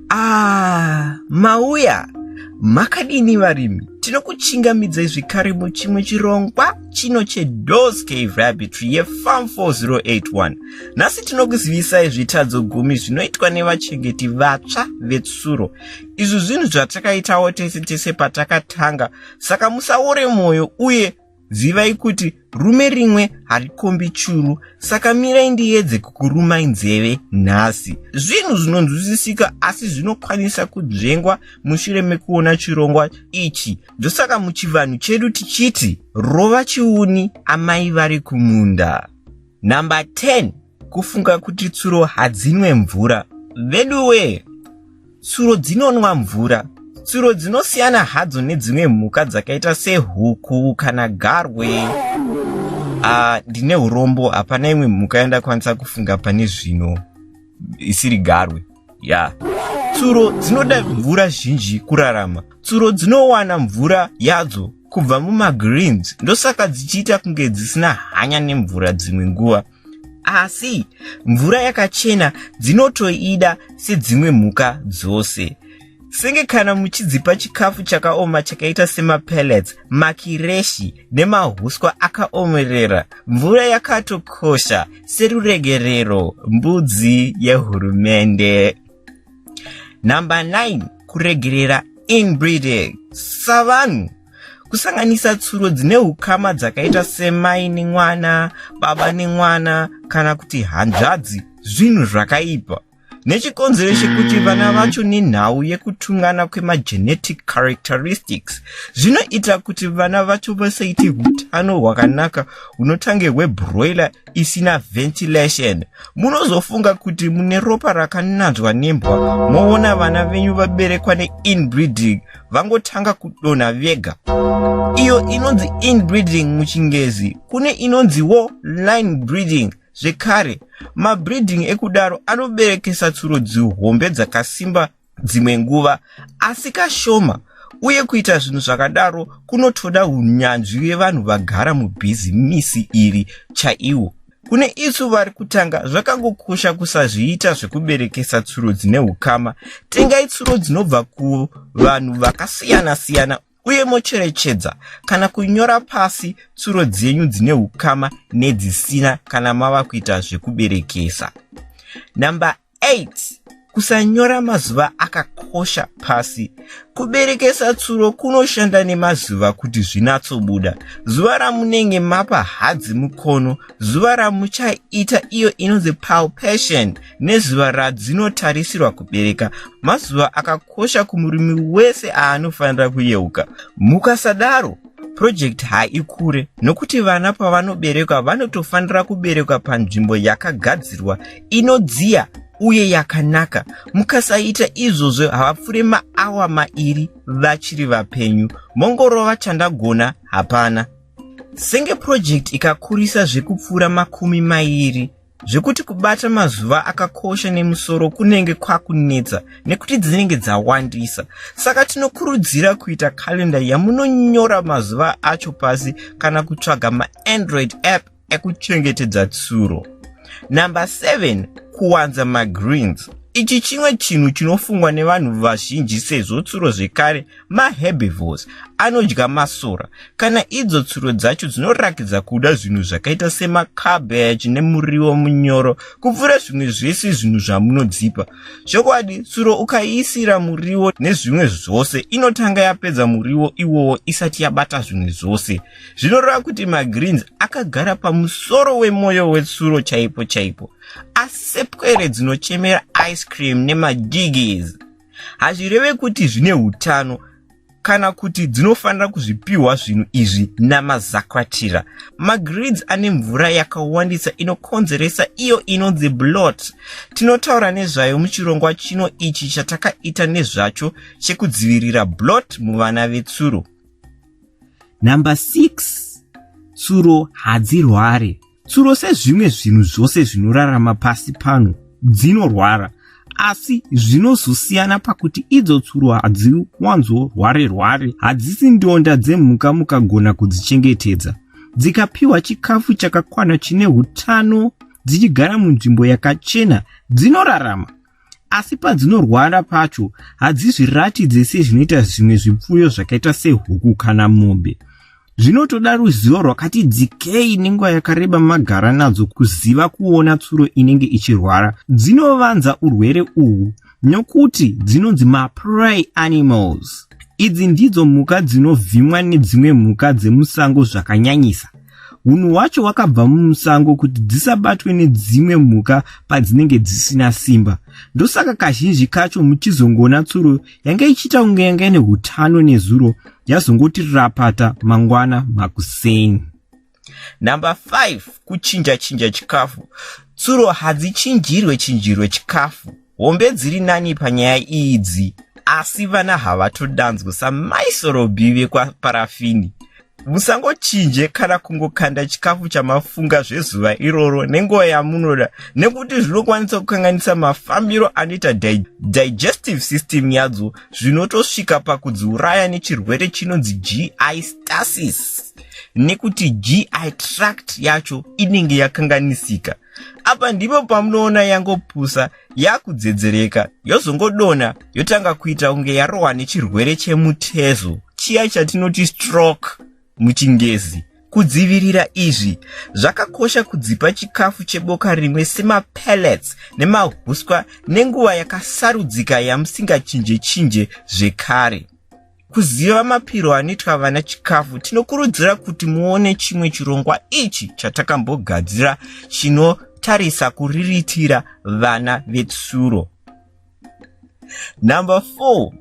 Ah, mauya makadini varimi tinokuchingamidzai zvekare muchimwe chirongwa chino chedos cave rabitry yefarm 4081 nhasi tinokuzivisai zvitadzo gumi zvinoitwa nevachengeti vatsva vetsuro izvi zvinhu zvatakaitawo tese tese patakatanga saka musaore mwoyo uye Zivai kuti rume rimwe harikombi churu, saka mirai ndiedze kukurumai nzeve nhasi. Zvinhu zvinonzwisisika asi zvinokwanisa kudzvengwa mushure mekuona chirongwa ichi. Ndosaka muchivanhu chedu tichiti rova chiuni amai vari kumunda. Number 10 kufunga kuti tsuro hadzinwe mvura veduwee tsuro dzinonwa mvura tsuro dzinosiyana hadzo nedzimwe mhuka dzakaita sehuku kana garwe ah, ndine uh, urombo hapana imwe mhuka yandakwanisa kufunga pane zvino isiri garwe ya yeah. tsuro dzinoda mvura zhinji kurarama tsuro dzinowana mvura yadzo kubva mumagreens ndosaka dzichiita kunge dzisina hanya nemvura dzimwe nguva asi mvura yakachena dzinotoida sedzimwe mhuka dzose senge kana muchidzipa chikafu chakaoma chakaita semapellets makireshi nemahuswa akaomerera mvura yakatokosha seruregerero mbudzi yehurumende number 9 kuregerera inbreeding savanhu kusanganisa tsuro dzine ukama dzakaita semai nemwana baba nemwana kana kuti hanzvadzi zvinhu zvakaipa nechikonzero chekuti vana vacho nenhau yekutungana kwemagenetic characteristics zvinoita kuti vana vacho vasaite utano hwakanaka hunotange hwebroiler isina ventilation munozofunga kuti mune ropa rakananzwa nembwa moona vana venyu vaberekwa neinbreeding vangotanga kudonha vega iyo inonzi inbreeding muchingezi kune inonziwo line breeding zvekare mabreeding ekudaro anoberekesa tsuro dzihombe dzakasimba dzimwe nguva asi kashoma uye kuita zvinhu zvakadaro kunotoda unyanzvi vevanhu vagara mubhizimisi iri chaiwo Kune isu vari kutanga, zvakangokosha kusazviita zvekuberekesa tsuro dzine ukama. Tengai tsuro dzinobva kuvanhu vakasiyana siyana uye mocherechedza kana kunyora pasi tsuro dzenyu dzine ukama nedzisina kana mava kuita zvekuberekesa. Number 8 kusanyora mazuva akakosha pasi kuberekesa tsuro kunoshanda nemazuva kuti zvinatsobuda zuva ramunenge mapa hadzi mukono zuva ramuchaita iyo inonzi palpation nezuva radzinotarisirwa kubereka mazuva akakosha kumurimi wese aanofanira kuyeuka mukasadaro Purojekiti haikure nokuti vana pavanoberekwa vanotofanira kuberekwa panzvimbo yakagadzirwa inodziya uye yakanaka. Mukasaita izvozvo havapfure maawa mairi vachiri vapenyu. Mongorova chandagona hapana. Senge purojekiti ikakurisa zvekupfuura makumi mairi zvekuti kubata mazuva akakosha nemusoro kunenge kwakunetsa nekuti dzinenge dzawandisa saka tinokurudzira kuita kalenda yamunonyora mazuva acho pasi kana kutsvaga maandroid app ekuchengetedza tsuro number 7 kuwanza magreens ichi chimwe chinhu chinofungwa nevanhu vazhinji sezvo tsuro zvekare maherbivores anodya masora kana idzo tsuro dzacho dzinorakidza kuda zvinhu zvakaita semacabbage nemuriwo munyoro kupfuura zvimwe zvese zvinhu zvamunodzipa zvokwadi tsuro ukaiisira muriwo nezvimwe zvose inotanga yapedza muriwo iwowo isati yabata zvimwe zvose zvinoreva kuti magreens akagara pamusoro wemwoyo wetsuro chaipo chaipo asepwere dzinochemera ice cream nemadigis hazvireve kuti zvine utano kana kuti dzinofanira kuzvipiwa zvinhu izvi namazakwatira magrids ane mvura yakawandisa inokonzeresa iyo inonzi blot tinotaura nezvayo muchirongwa chino ichi chatakaita nezvacho chekudzivirira blot muvana vetsuro number 6 tsuro hadzirware Tsuro sezvimwe zvinhu zvose zvinorarama pasi pano dzinorwara, asi zvinozosiyana pakuti idzo tsuro hadziwanzorware-rware, hadzisi ndonda dzemhuka mukagona kudzichengetedza. Dzikapiwa chikafu chakakwana chine utano, dzichigara munzvimbo yakachena, dzinorarama. asi padzinorwara pacho hadzizviratidze sezvinoita zvimwe zvipfuyo zvakaita sehuku kana mombe zvinotoda ruzivo rwakati dzikei nenguva yakareba magara nadzo kuziva kuona tsuro inenge ichirwara dzinovanza urwere uhwu nokuti dzinonzi mapry animals idzi ndidzo mhuka dzinovhimwa nedzimwe mhuka dzemusango zvakanyanyisa hunhu hwacho hwakabva mumusango kuti dzisabatwe nedzimwe mhuka padzinenge dzisina simba ndosaka kazhinji kacho muchizongoona tsuro yanga ichiita kunge yanga ine utano nezuro yazongoti rapata mangwana makuseni number 5 kuchinja chinja chikafu tsuro hadzichinjirwe chinjirwe chikafu hombe dziri nani panyaya idzi asi vana havatodanzwe samaisorobi vekwaparafini musangochinje kana kungokanda chikafu chamafunga zvezuva iroro nenguva yamunoda nekuti zvinokwanisa kukanganisa mafambiro anoita di digestive system yadzo zvinotosvika pakudziuraya nechirwere chinonzi gi stasis nekuti gi tract yacho inenge yakanganisika apa ndipo pamunoona yangopusa yakudzedzereka yozongodona yotanga kuita kunge yarohwa nechirwere chemutezo chiya chatinoti stroke muchingezi kudzivirira izvi zvakakosha kudzipa chikafu cheboka rimwe semapellets nemahuswa nenguva yakasarudzika yamusingachinje chinje zvekare kuziva mapiro anoitwa vana chikafu tinokurudzira kuti muone chimwe chirongwa ichi chatakambogadzira chinotarisa kuriritira vana vetsuro number four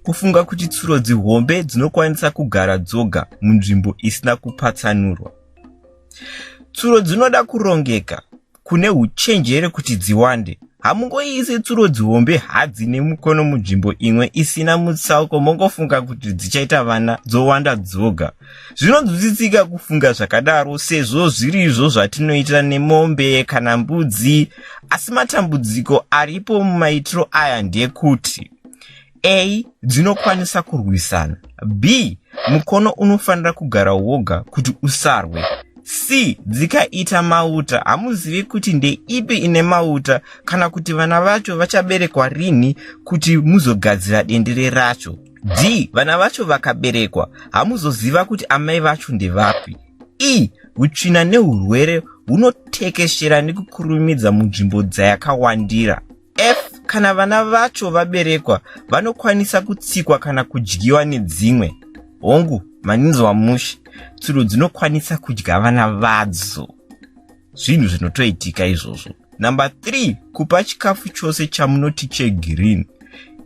kufunga kuti tsuro dzihombe dzinokwanisa kugara dzoga munzvimbo isina kupatsanurwa tsuro dzinoda kurongeka kune uchenjere kuti dziwande hamungoiise tsuro dzihombe hadzi nemukono munzvimbo imwe isina mutsauko mongofunga kuti dzichaita vana dzowanda dzoga zvinonzwisisika kufunga zvakadaro sezvo zviri izvo zvatinoita nemombe kana mbudzi asi matambudziko aripo mumaitiro aya ndekuti a dzinokwanisa kurwisana b mukono unofanira kugara woga kuti usarwe c dzikaita mauta hamuzivi kuti ndeipi ine mauta kana kuti vana vacho vachaberekwa rinhi kuti muzogadzira dendere racho d vana vacho vakaberekwa hamuzoziva kuti amai vacho ndevapi e utsvina neurwere hunotekeshera nekukurumidza munzvimbo dzayakawandira F kana vana vacho vaberekwa vanokwanisa kutsikwa kana kudyiwa nedzimwe hongu maninzi wamushi tsuro dzinokwanisa kudya vana vadzo zvinhu zvinotoitika izvozvo number three kupa chikafu chose chamunoti chegreen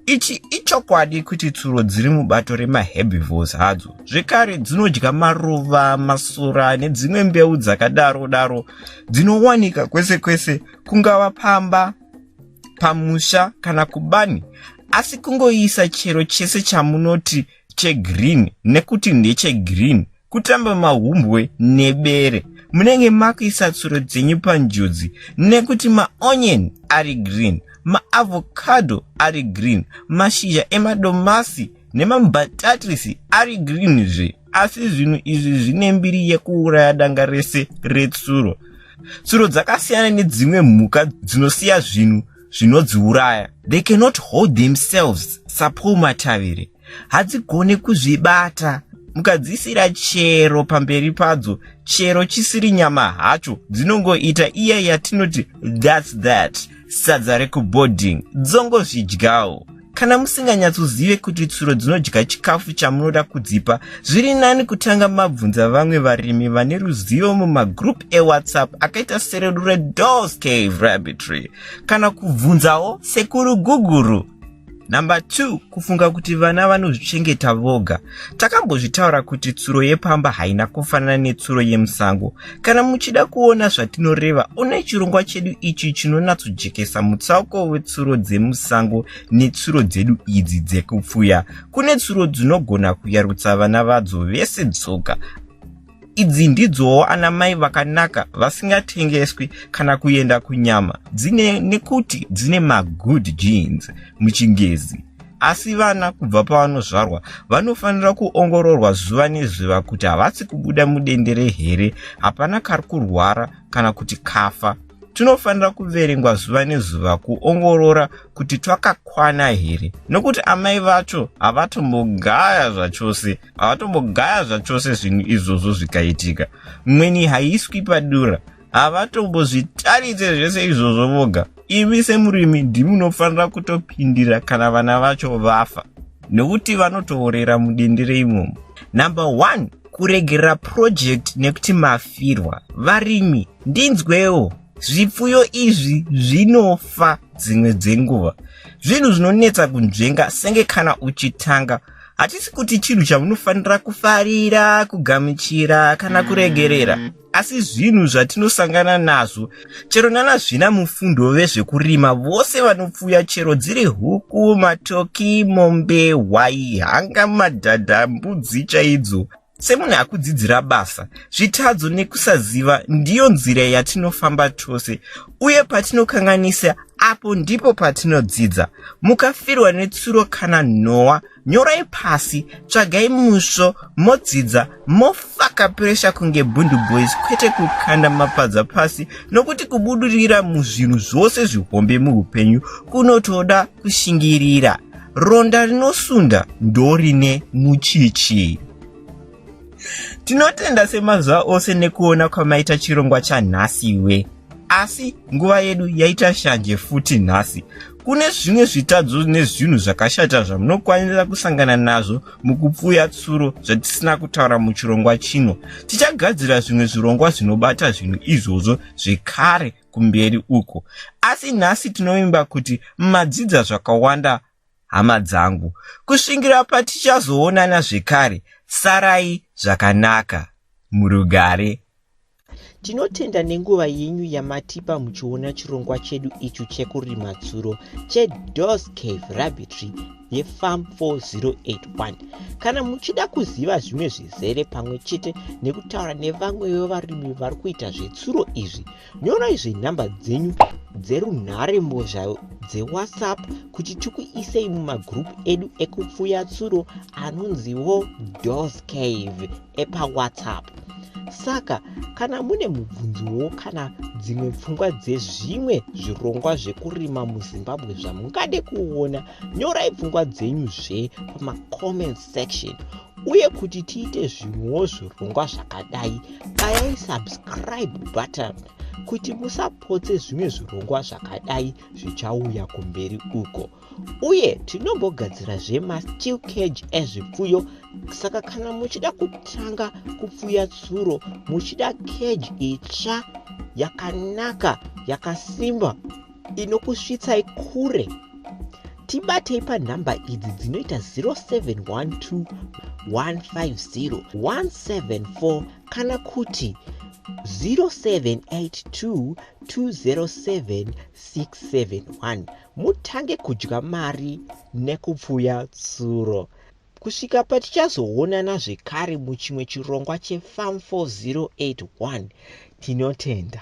ichi ichokwadi kuti tsuro dziri mubato remaherbivores hadzo zvekare dzinodya maruva masora nedzimwe mbeu dzakadaro daro dzinowanika kwese kwese kungava pamba pamusha kana kubani asi kungoisa chero chese chamunoti chegreen nekuti ndechegreen kutamba mahumbwe nebere munenge makuisa tsuro dzenyu panjodzi nekuti maonion ari green maavocado ari green mashizha emadomasi nemambatatisi ari green zve asi zvinhu izvi zvine mbiri yekuuraya danga rese retsuro tsuro dzakasiyana nedzimwe mhuka dzinosiya zvinhu zvinodziuraya they cannot hold themselves sapaul matavire hadzigone kuzvibata mukadzisira chero pamberi padzo chero chisiri nyama hacho dzinongoita iya yatinoti thats that sadza rekuboarding dzongozvidyawo Kana musinganyatsozive kuti tsuro dzinodya chikafu chamunoda kudzipa, zviri nani kutanga mabvunza vamwe varimi vane ruzivo mumagroup eWhatsApp akaita seredu reDoors Cave Rabbitry kana kubvunzawo sekuru Guguru. Number 2 kufunga kuti vana vanozvichengeta voga. Takambozvitaura kuti tsuro yepamba haina kufanana netsuro yemusango. Kana muchida kuona zvatinoreva, onai chirongwa chedu ichi chinonatsojekesa mutsauko wetsuro dzemusango netsuro dzedu idzi dzekupfuya. Kune tsuro dzinogona kuyarutsa vana vadzo vese dzoga. Idzi ndidzowo ana mai vakanaka vasingatengeswi kana kuenda kunyama dzine nekuti dzine magood genes muchingezi. asi vana kubva pavanozvarwa vanofanira kuongororwa zuva nezuva kuti havasi kubuda mudendere here hapana kari kurwara kana kuti kafa tinofanira kuverengwa zuva nezuva kuongorora kuti twakakwana here nokuti amai vacho havatombogaya zvachose havatombogaya zvachose zvinhu izvozvo zvikaitika mweni haiswi padura havatombozvitarise zvese izvozvo voga imi semurimi ndimunofanira kutopindira kana vana vacho vafa nokuti vanotoorera mudendere imomo number one kuregerera purojekti nekuti mafirwa varimi ndinzwewo zvipfuyo izvi zvinofa dzimwe dzenguva zvinhu zvinonetsa kunzvenga senge kana uchitanga hatisi kuti chinhu chamunofanira kufarira kugamuchira kana kuregerera asi zvinhu zvatinosangana nazvo chero nana zvina mufundo vezvekurima vose vanopfuya chero dziri huku matoki mombe hwai hanga madhadha mbudzi chaidzo semunhu akudzidzira basa zvitadzo nekusaziva ndiyo nzira yatinofamba tose uye patinokanganisa apo ndipo patinodzidza mukafirwa netsuro kana nhowa nyorai pasi tsvagai musvo modzidza mofaka puresha kunge bundu boys kwete kukanda mapadza pasi nokuti kubudurira muzvinhu zvose zvihombe muupenyu kunotoda kushingirira ronda rinosunda ndorine muchichi tinotenda semazuva ose nekuona kwamaita chirongwa chanhasiwe asi nguva yedu yaita shanje futi nhasi kune zvimwe zvitadzo nezvinhu zvakashata zvamunokwanisa kusangana nazvo mukupfuya tsuro zvatisina kutaura muchirongwa chino tichagadzira zvimwe zvirongwa zvinobata zvinhu izvozvo zvekare kumberi uko asi nhasi tinovimba kuti madzidza zvakawanda hama dzangu kusvingira patichazoonana zvekare sarai zvakanaka murugare tinotenda nenguva yenyu yamatipa muchiona chirongwa chedu ichu chekurima tsuro chedos cave rabbitry yefam 4081 kana muchida kuziva zvimwe zvizere pamwe chete nekutaura nevamwe vevarimi vari kuita zvetsuro izvi nyorai zvenhamba dzenyu dzerunhare mbozha dzewhatsapp kuti tikuisei mumagroup edu ekupfuya tsuro anonziwo dos cave epawhatsapp saka kana mune mubvunzowo kana dzimwe pfungwa dzezvimwe zvirongwa zvekurima muzimbabwe zvamungade kuona nyorai pfungwa dzenyuzve pamacomment section uye kuti tiite zvimwewo zvirongwa zvakadai bayai subscribe button kuti musapotse zvimwe zvirongwa zvakadai zvichauya kumberi uko uye tinombogadzira zvemasteel cage ezvipfuyo saka kana muchida kutanga kupfuya tsuro muchida cage itsva yakanaka yakasimba inokusvitsai kure tibatei panhamba idzi dzinoita 0712150174 kana kuti 0782207671 mutange kudya mari nekupfuya tsuro kusvika patichazoonana zvekare muchimwe chirongwa chefam 4081 tinotenda